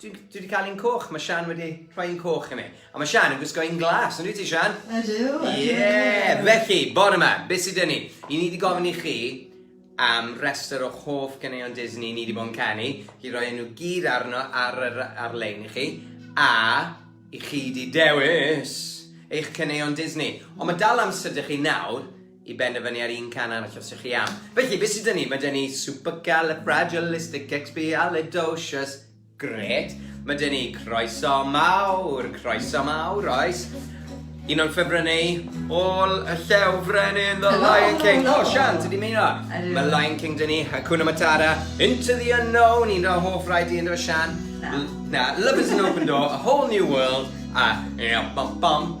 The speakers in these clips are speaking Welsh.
Dwi, dwi wedi cael un coch, mae Sian wedi rhoi un coch i mi. A mae Sian yn gwisgo un glas, yn ti Sian? Ydw, ydw. Ie, yeah. felly, bore yma, beth sydd dyn ni? I ni wedi gofyn i chi am rester o hoff gyneuon Disney ni wedi bod yn canu, i roi nhw gyd arno ar, ar, ar-lein i chi, a i chi wedi dewis eich cyneuon Disney. Ond mae dal amser dych chi nawr i benderfynu ar un can arall os ych chi am. Felly, beth sydd dyn ni? Mae dyn ni supercalifragilisticexpialidocious. Gret. Mae dyn ni croeso mawr, croeso mawr, oes? Un o'n ffefrynnau all y llew frenin The Lion King. O, Sian, ti di mynd o? Mae Lion King dyn ni, Hakuna Matata, Into the Unknown, un o'n hoff rhaid i ynddo Sian. Na. Love is an open door, a whole new world, a... Bum, bum.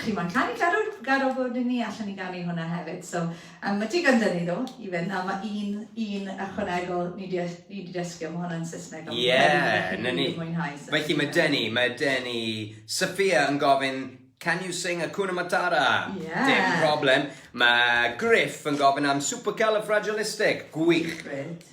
chi moyn canu garw garw bod i ni allan i ganu hwnna hefyd so um, mae digon dyn ni ddo i fynd a mae un, un ychwanegol ni di, ni di dysgu am hwnna'n Saesneg ond yeah, na ni mwynhau felly mae Denny mae Denny Sophia yn gofyn Can you sing a Kuna Matara? Yeah. Dim problem. Mae Griff yn gofyn am Supercalifragilistic. Gwych. Brilliant.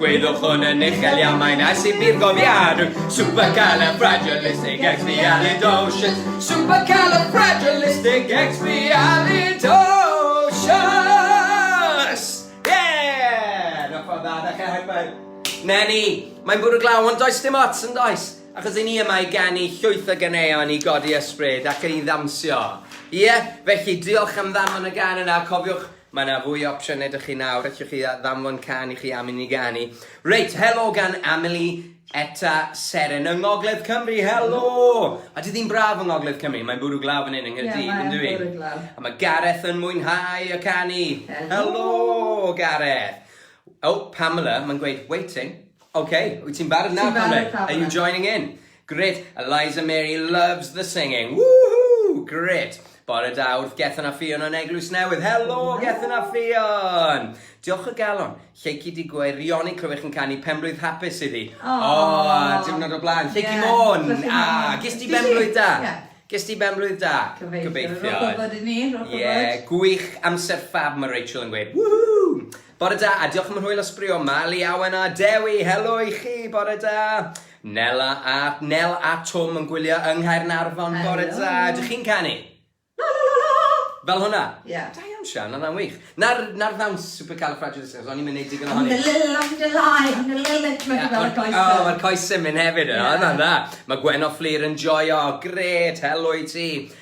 Gwyddoch hwn yn uchel iawn, mae'n ais i fi'r gofiadwy Supercalifragilistic expialidocious Supercalifragilistic expialidocious Yeah! Diolch fawr dda, ddechrau high five Na ni, mae'n bwrw glaw ond does dim ots yn does Achos i ni yma i ganu llwyth o ganeuon i godi ysbryd ac i ddawnsio Ie, felly diolch am ddanfon y gan yna, cofiwch Mae 'na fwy o opsiynau 'da chi nawr, allwch chi ddanfon cân i chi am i ni ganu. Reit, helo gan Amelie Etta Seren yng Ngogledd Cymru, helo! Odi di'n braf yng Ngogledd Cymru? Mae'n bwrw glaw fan hyn yng Nghaerdydd, yn dyw 'i? Ie, mae'n bwrw glaw. A mae Gareth yn mwynhau y canu. Helo! Helo, Gareth! O, Pamela, mae'n gweud, waiting. Ok, wyt ti'n barod nawr Pamela? Ti'n barod Pamela? Are you joining in? Gret, Eliza Mary loves the singing, woohoo! Gret! Bore da wrth Gethin a Ffion yn Eglwys Newydd. Helo Gethin a Ffion! Diolch o galon. Lleucu di gwaerioni clywech yn canu penblwydd hapus iddi. O, oh, diwrnod o blaen. Lleucu yeah, môn! A, ah, gys di benblwydd da? Yeah. Gys di benblwydd da? Gobeithio. Gobeithio. Rhywbeth bod i ni, rhywbeth bod. Ie, gwych amser ffab mae Rachel yn gweud. Woohoo! Bore da, a diolch am yr hwyl a sbrio. Mali Awen a Dewi, helo i chi, bore da. Nela a, Nel a Twm yn gwylio yng Nghaernarfon, bore da. Ydych chi'n canu? La la la la! Fel hwnna? Ie. Da iawn Sian, oedd hwnna'n wych. Na'r, na'r ddawns supercalifragilistic, o'n i'm yn neud digon ohoni. Ymdalila, ymdalai, ymdalila, ti'n gweld y coesau. O, mae'r coesau'n mynd hefyd yno, oedd hwnna'n dda. Mae Gwenno Fflur yn joio, grêt, helo i ti.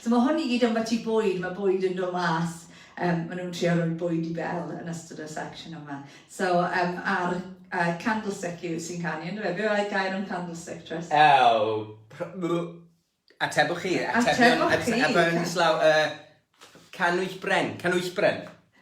So mae hwn i gyd ambell i bwyd, mae bwyd yn dod mas, yym maen nhw'n trio rhoi bwyd i Belle yn ystod y section yma. So um, ar uh, candlestick yw sy'n canu, ynddo fe? Be oedd gair am candlestick, Tris? Ew, atebwch chi, atebion, atebion islaw, uh, canwyll bren, canwyll bren.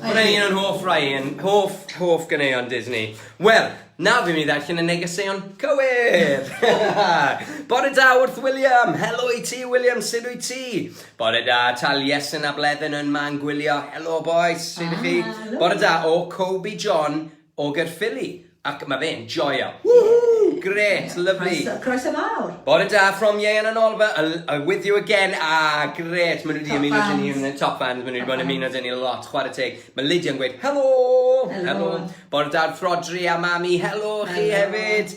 Ryan yn hoff Ryan, hoff, hoff ganeuon Disney. Wel, nawr fi'n mynd i ddarllen y negeseuon cywir! Bore da wrth William! Helo i ti William, sut wyt ti? Bore da, Taliesin a Bleddyn yn man gwylio, helo bois, sut ych chi? Bore da o Coby John, O Gaerffili ac mae fe'n joio. Woohoo! Grêt, lyfli. Croeso, croeso mawr. Bore da from Ieuan and Oliver, a with you again, ah grêt, maen nhw wedi ymuno dyn ni yn y top fans, maen nhw wedi bod yn ymuno dyn ni lot, chwarae teg, mae Lydia'n gweud helo, helo, bore da wrth Rhodri a mami, helo chi hefyd.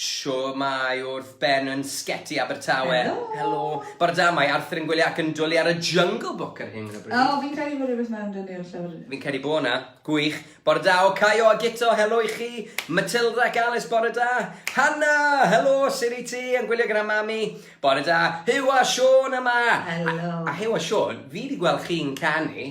Shwmae wrth Ben yn Sgeti Abertawe. Helo. Helo. Bore da, mae Arthur yn gwylio ac yn dwli ar y Jungle Book ar hyn o bryd. O, fi'n credu bod rhywbeth mewn dynnu o'r llyfr. Fi'n credu bod na. Gwych. Bore da o Caio a Guto, helo i chi. Matilda ac Alice, bore da. Hanna, helo, sut i ti? Yn gwylio gyda mami. Bore da. Huw a Siôn yma. Helo. A, a Huw a Siôn, fi wedi gweld chi'n canu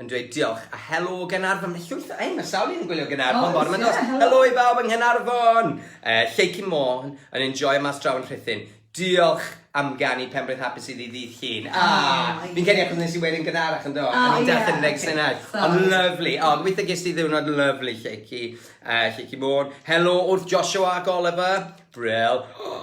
yn dweud diolch a helo Gaernarfon, mae llwyth o ein sawl un yn gwylio Gaernarfon bore yma dos, helo i bawb yng Nghaernarfon, uh, Lleucu Môn yn enjoy mas draw yn Rhuthun, diolch am ganu Pembrith Hapus iddi ddydd llun. Ah, ah fi'n cedi achos nes i wedyn gynharach yn do, oh, a ni'n yeah. darllen reg senau. Ond lyflu, o, oh, gweithio ges ti ddiwrnod lyflu, Lleucu, uh, Lleucu Môn. Helo wrth Joshua ac Oliver, bril. Oh,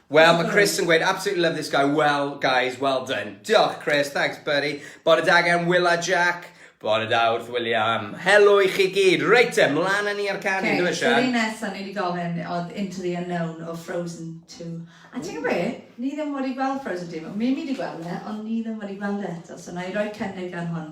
Wel, mae Chris yn gweud, absolutely love this guy, well, guys, well done. Diolch, Chris, thanks, buddy. Bore da gen Will a Jack. Bore da wrth William. Helo i chi gyd. Reit te, mlaen â ni ar canu, okay, dwi'n siarad. Oce, so nesaf ni wedi gofyn oedd Into the Unknown o Frozen 2. A ti'n gwybod be? Ni ddim wedi gweld Frozen 2. Mae Mimi wedi gweld e, ond ni ddim wedi gweld e eto. So na i roi cynnig ar hwn.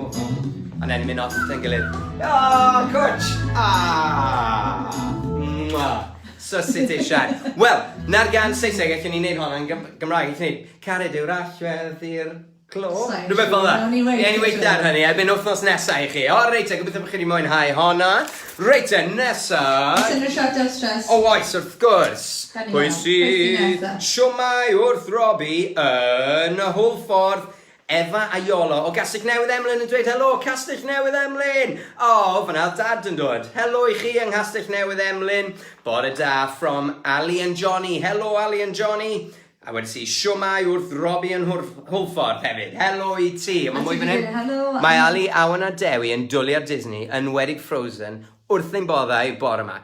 And then mynd off yn gilydd. Aww, cwtsh! Aww! Sysit eisiau. Wel, na'r gan Saesneg, allwn ni'n neud hon yn Gymraeg, allwn ni. Cared yw'r allwedd i'r clo. Rhywbeth fel yna. Ie, ni weithio ar hynny, erbyn wythnos nesaf i chi. O, reit, a gobeithio bod chi wedi mwynhau honna. Reit, a nesa... Oes unrhyw siart ar stress? O, oes, wrth gwrs. Pwy sydd siomai wrth Robbie yn y hwlffordd? Efa a Iolo o Gastell Newydd Emlyn yn dweud Helo Castell Newydd Emlyn! Aww, fan'na oedd Dad yn dod! Helo i chi yng Nghastell Newydd Emlyn! Bore da from Ali and Johnny! Helo Ali and Johnny! A wedais i Siwmai wrth Robbie yn Hwlffordd hefyd! Helo i ti! A mae mwy fan hyn! Mae Ali, Awen a Dewi yn dwlu ar Disney, yn enwedig Frozen, wrth ein boddau bore 'ma!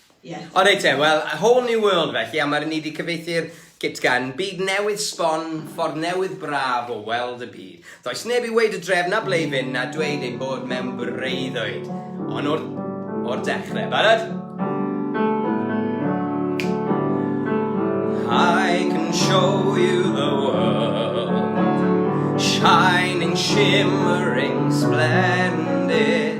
O reit te, wel, a whole new world felly, a ma' ni 'di cyfieithu'r git gan, byd newydd sbon, ffordd newydd braf o weld y byd. Does neb i weud y dref na ble i fynd na dweud ein bod mewn breuddwyd. Ond o'r, o'r dechre. Barod? I can show you the world Shining, shimmering, splendid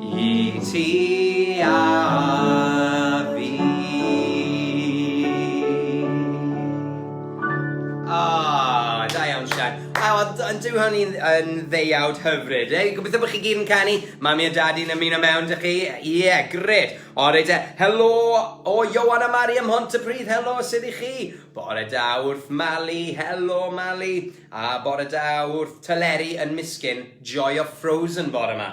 I ti a fi Ah, da iawn Sian. A oedd yn dyw hwn i'n yn ddeiawd hyfryd. Ei, gobeithio bod chi gyd yn canu. Mami a dad i'n ymuno mewn dych chi. Ie, yeah, gred. Ore da. Helo o Johan a Mari ym Mhontypridd. Helo, sydd i chi? Bore da wrth Mali. Helo, Mali. A bore da wrth Tyleri yn Miskin. Joio Frozen bore yma.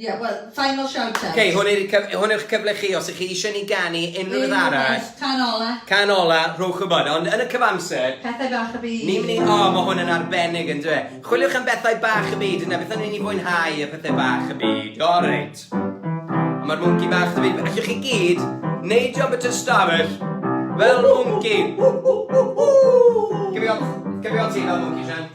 Ie, wel, final shout out. Ok, hwn yw cyf- hwn yw'ch cyfle chi, os ych chi eisiau ni ganu unrhyw beth arall. Unrhyw beth, can ola. Can ola, rhowch wybod, ond yn y cyfamser... Pethau bach y byd. Ni'n mynd i, o, mae hwn yn arbennig yn dwe. Chwiliwch am bethau bach y byd, yna beth o'n i'n ei fwynhau y pethau bach y byd, o reit. Mae'r mwnci bach dy byd, allwch chi gyd, neidio bit o stafell, fel mwnci. Cymio, cymio ti fel mwnci, Sian.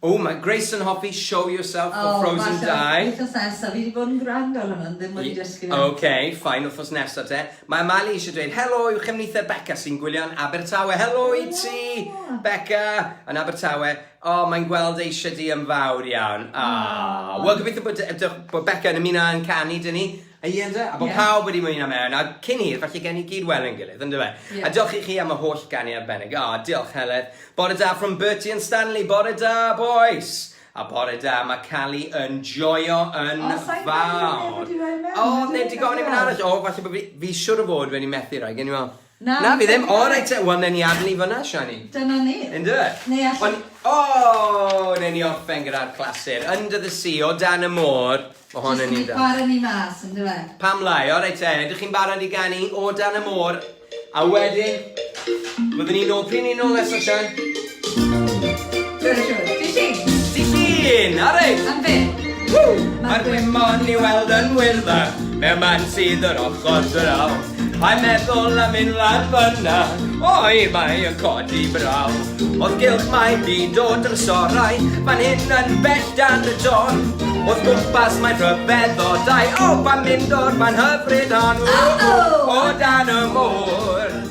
Oh mae Grace yn hoffi Show Yourself o Frozen 2. O falle wythnos nesa, fi di bod yn gwrando ar hwnna ond ddim wedi dysgu fe eto. Ok, fine, wythnos nesa te. Mae Mali eisiau dweud helo i'w chefnither Becca sy'n gwylio yn Abertawe. Helo i ti, Becca, yn Abertawe. O, mae'n gweld eisiau di yn fawr iawn. Aww. Wel, gobeithio bod, bod Becca yn ymuno yn canu dyn ni. Ie ynde? A bod yeah. pawb wedi mwyn am Erin, a cyn hir, falle gen i gyd welen gilydd, ynddo fe? Yeah. A diolch i chi am y holl ganu arbennig. O, diolch Heledd. Bore da from Bertie and Stanley. Bore da, boys. A bore da, mae Cali yn joio yn oh, fawr. O, neb di gofyn i mynd arall. O, falle bod fi, fi siwr o fod wedi methu rhaid. Gen i fel, Na, fi ddim. Na, fi ddim. O reit te, wel newn ni adel 'i fan'na, Siani. Dyna ni. Yndyfe? Neu alle-... Ond, o! Newn ni orffen gyda'r clasur, Under the Sea, O dan y Môr. Ma' hon yn un da. Jyst yn para ni mas, yndyfe? Pam lai? O reit te, ydych chi'n barod i ganu O dan y Môr? A wedyn, byddwn ni nôl, pryd 'ny ni nôl nesa, Sian? Dyna siwr. Dydd Llun! Dydd Llun! A reit! Am be? Ww! Mae'r gwymon i weld yn wyrddfa Mewn man sydd yr ochr draw Mae'n meddwl am mynd lan fyna Oi, mae yn codi braw Oedd gylch mae byd o drysorau Fan hyn yn bell dan y don Oedd gwmpas mae'n rhyfedd o dau O, pan mynd o'r man hyfryd hon O, o, o dan y môr